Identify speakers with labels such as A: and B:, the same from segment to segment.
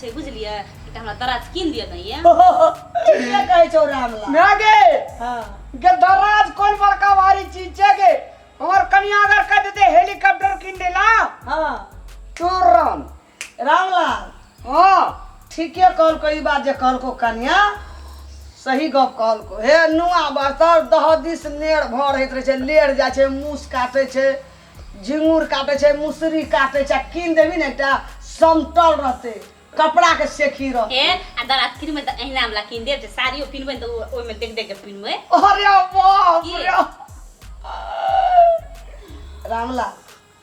A: छै बुझलियै एकटा
B: हमरा दराज कीन दिअ ने ये
C: ठीके
B: कहै छौ रामला
C: ना गे हाँ गे दराज कोन बड़का भारी चीज छै गे हमर कनिया अगर कह देते हेलीकॉप्टर किन दे ला हाँ
B: तुरंत
C: रामला
B: हाँ
C: ठीके कहलको
B: ई बात जे कहलको कन्या सही गप कहलको हे नुआ बर्तर दह दिस नेड़ भर होइत रहै छै लेड़ जाइ छै मूस काटै छै झिंगुर काटै छै मुसरी काटै छै कीन देबी ने एकटा समतल रहते कपड़ा के सेखी रहते ए आ दादा कीन
A: में त एहना वाला कीन देब जे साड़ियो पिनबै ने त ओइ में देख देख के पिनबै अरे बाप
C: रे
B: रामलाल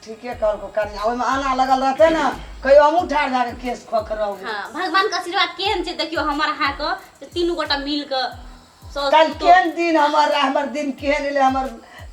B: ठीके कहलको कनिया ओहिमे आना लगल रहते ने कहियो हमहूँ ठाढ़ भए कऽ केस खोखरब हँ भगवान के आशीर्वाद
A: केहन छै देखियो हमर अहाँ के तीनू गोटा मिल के साउस कल पुतोह। केहन
B: दिन हमर रहे हमर दिन केहन एलै हमर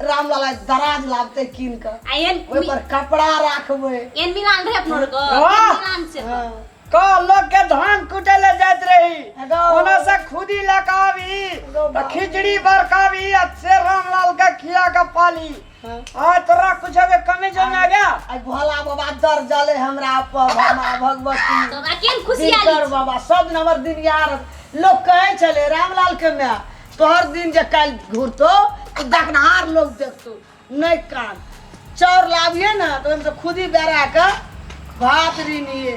B: रामलाला दराज लाबतै कीन कऽ आ एहन ओहि पर
A: कपड़ा
B: राखबै एहन मिलान रहे अपनो
A: आरके वाह! एहन मिलान से हँ। क लोग
C: के धान कुटे ले जाइत रही हेलो। ओना से
B: खुदी
C: लकाबी हेलो, त खिचड़ी बरकाबी आ से रामलाल के खिया के पाली हाँ तोरा कुछ अबे कमे जो ना गया आई भोला बाबा
B: दर जले हमरा पर मामा भगवती तो हमरा केन खुशी
A: आली दिनकर बाबा सब नंबर
B: दिन यार लोग कहे चले रामलाल के मैं तोहर दिन जे काल घूरतो तो देखनहार लोग देखतो नहीं कान चाउर लाबिए ना तो हम तो खुद ही बेरा के भात रीनिए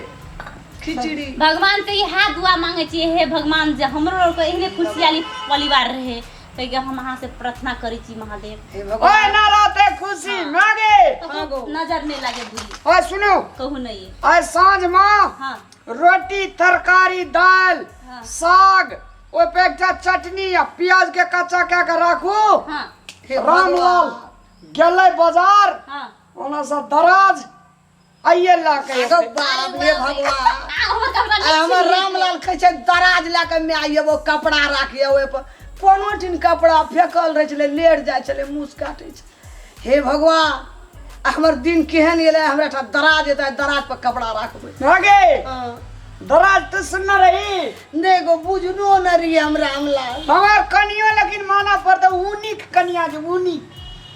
B: खिचड़ी भगवान से इहे
A: दुआ मांगे छी हे भगवान जे हमरो आर के एहने खुशहाली परिवार रहे तैके हम अहाँ से प्रार्थना करी छी महादेव हे ओए भगवान ना
B: रहते खुशी
C: मागे कहो नजर
A: नहीं लगे बुरी ओए सुनो कहू
C: नहीं है ओए
A: साँझ माँ हाँ
C: रोटी तरकारी दाल हाँ। साग ओहि पे एकटा चटनी आ प्याज के कच्चा कए के राखू हाँ हे
A: रामलाल
B: भगवान।
C: गेलै बाजार हाँ ओना
A: से दराज
C: आइए ला के अरे एतै। बाप रे
B: भगवान आहो त हमरा आ नहीं
A: हमर रामलाल
B: कहै छै दराज लए कऽ माय आइए वो कपड़ा राखिए ओहिपर कोनो ठिन कपड़ा फेकल रहै छलै लेट जाइ छलै मुस काटै छै हे भगवान आ हमर दिन केहन गेलै हमरा ठाम दराज एतै दराज पर कपड़ा राखबै भागे हँ। दराज तो
C: सुनना रही नहि एगो बुझनो
B: नहि रहिए हम रामलाल हमार कनियो
C: लेकिन माना पड़ता ऊनी के कनिया जे ऊनी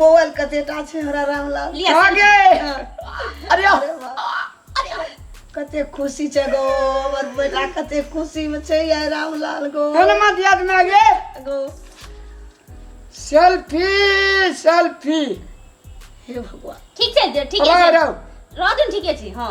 A: मोबाइल
B: कतेटा छै हमरा रामलाल लिअ, कहाँ गे अरे
C: आ- अरे
B: वाह। अरे आ- कते खुशी छै गो हमर बेटा कते खुशी में छै ये रामलाल गो हनुमान दियाद में गे
C: गो सेल्फी सेल्फी
B: हे भगवान ठीक छै जे- ठीके रहो
A: छै रहो रह
C: दिन ठीके छी
A: हँ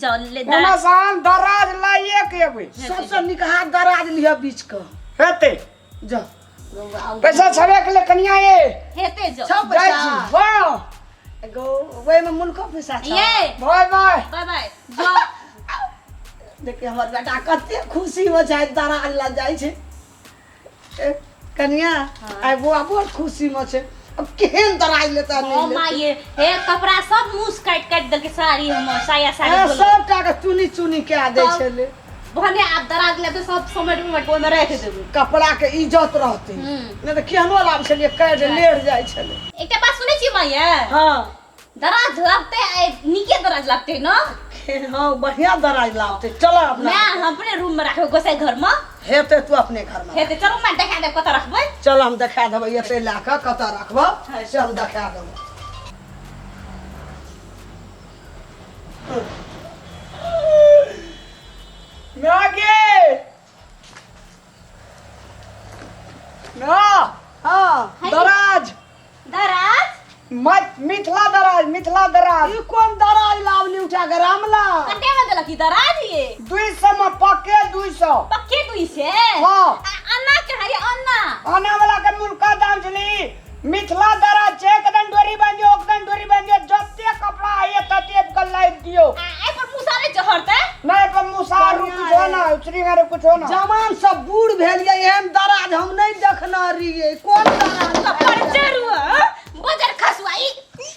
B: जाओ
A: ले दा- ओना से हम दराज
C: लाइए के अबै सबसँ नीक हाथ
B: दराज लिह बीच क हेतै
C: जा
B: पैसा
C: छबे के ले कनिया ये हेते जाओ छौ जाइ
A: पैसा छी वाह
C: एगो ओहिमे
B: मुल्को पैसा छौ ये बाय बाय बाय
A: बाय
C: जाओ
B: देखिए हमर बेटा कते खुशी हो जाए दराज लग जाइ छै ए, कनिया आइ बुआ बड़ खुशी में छै अब केहन दराज लेता ओ नहीं लेता। माय
A: हे कपड़ा सब मुस काट काट देलके साड़ी हमर साया साड़ी ए, बोलो सबटा के चुनी
B: चुनी के दे तब- छले भने आप दराज
A: लेबे सब समट उमट ओमे रख देबे कपड़ा के इज्जत
B: रहते हम्म। नहीं तो केहनो लाभ छलिए कैड लेट जाय छले एकटा बात सुनै छी माय
A: हाँ
B: दराज
A: लागते आइ नीके दराज लागते न खेल हँ बढ़िया
B: दराज लागते चल अपना मैं हम अपने रूम में रखबे
A: गोसाई घर में हेते तू अपने
B: घर में हेते चलो मैं देखा देब कतऽ
A: रखबै चल हम देखा देबै
B: एते लए कऽ कतऽ रखबह से हम देखा देबै
C: मागे हाँ, हाँ,
B: है। दराज
C: दराज
A: मि-
C: मिथिला दराज मिथिला दराज ई कोन दराज
B: लावली उठा के रामला कटे में देलक ई
A: दराज ये दुई सौ में पक्के
C: दुई सौ पक्के दुई से
A: हाँ। आ-
C: अन्ना कहा ये
A: अन्ना आने वाला के
C: मुल्का दाम छली मिथिला द्वारा चेक दन डोरी बन जो ओक दन डोरी बन जो जत्ते कपड़ा आइए तत्ते कल लाइव दियो आ ए पर मुसा नै
A: चहरते नहीं पर मुसा
C: रु कुछ हो ना श्री रे कुछ हो ना जवान सब बूढ़
B: भेलिए एहन दराज हम नहीं देखना रहिए कोन दराज सब पर चरुआ
A: बजर खसुआई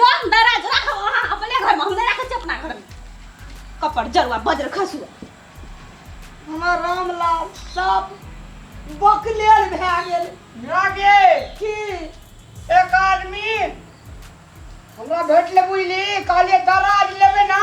A: जो दराज राखो अहाँ अपने घर में हम नहीं रखे छी अपना घर में कपड़ जरुआ बज्र खसुआ
B: हमरा रामलाल सब बकलेल भए गेल लागे
C: की
B: एक
C: आदमी हमरा भेटले बुझली कहलिए दराज लेबे ना